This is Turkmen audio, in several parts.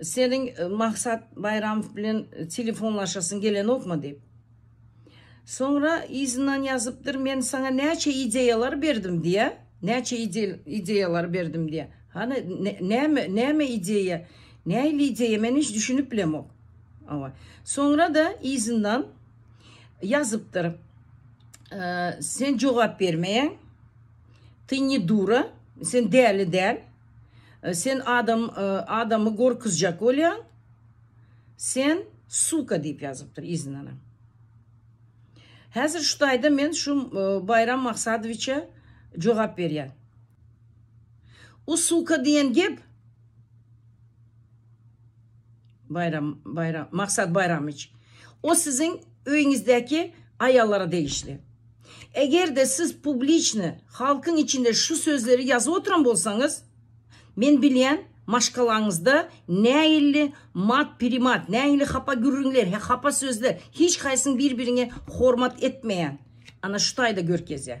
Seniň Maksat Baýramow bilen telefonlaşasyň gelenokmy diýip. Soňra yzyndan ýazypdyr, men saňa näçe ideýalar berdim diýä, näçe ideýalar berdim diýä. Hany, näme, näme ideýa, nähili ideýa, men hiç düşünip bilemok. Hawa. Soňra-da yzyndan ýazypdyr, sen jogap bermeýäň, ty ne duura, sen däli däl. Sen adam adamy gorkuzjak bolýaň. Sen suka diýip ýazypdyr yzyndanam. Häzir şu taýda men şu Baýram Maksadowiçe jogap berýän. O suka diýen gep Baýram Baýram Maksat Baýramyç o siziň öýüňizdäki aýallara degişli. Egerde siz publiçny halkyň içinde şu sözleri ýazyp oturan bolsaňyz men bilýän maşgalaňyzda nähilli mat primat nähilli hapa gürrüňler he hapa sözler hiç haýsyň bir biriňe hormat etmeýän ana şu taýda görkezýär.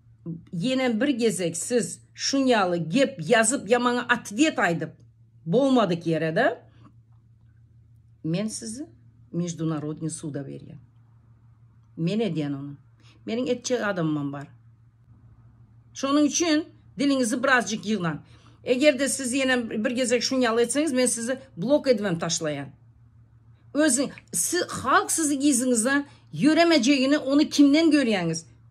Ýenem bir gezek siz şunýaly gep ýazyp ýa maňa atwet aýdyp bolmadyk ýere-de men sizi Mejdunarodnyý suda berýän. Men edýän ony. Meniň etjek adamymam bar. Şonuň üçin diliňizi birazjyk ýygnaň. Eger-de siz ýenem bir gezek şunýaly etseňiz men sizi blok edibem taşlaýan. Özüň siz halk sizi yzyňyzdan ýöremejegini ony kimden görýäňiz?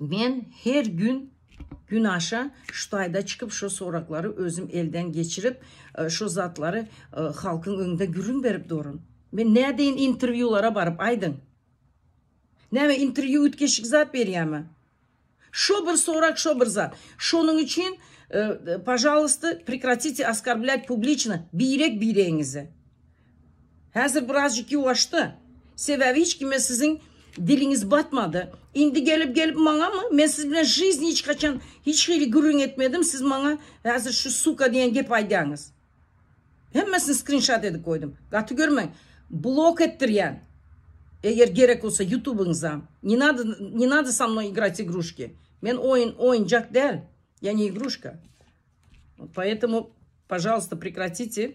Men her gün günaşa şu taýda çykyp şu soraklary özüm elden geçirip şu zatlary halkyň öňünde gürrüň berip durun. Men nädeýin interwýulara baryp aýdyň. Näme interwýu üýtgeşik zat berýämi? Şo bir sorak şo bir zat. Şonuň üçin pažalysta prekratite oskarbläýt publiçna birek biregiňizi. Häzir birazjyk ýuwaşdy. Sebäbi hiç kime siziň diliňiz batmady. Indi gelip gelip maňamy? Men siz bilen žizni hiç haçan hiç hili gürrüň etmedim, siz maňa häzir şu suka diýen gepi aýdýaňyz. Hemmesini skrinşat edip goýdum. Gaty görmäň. Blok etdirýän. Eger gerek bolsa ýutubyňyza. Ne nada ne nada sa mno igrać igruşki. Men oýun oýunjak däl. Ýa ne igruşka. Poetemu pažalysta prekratite.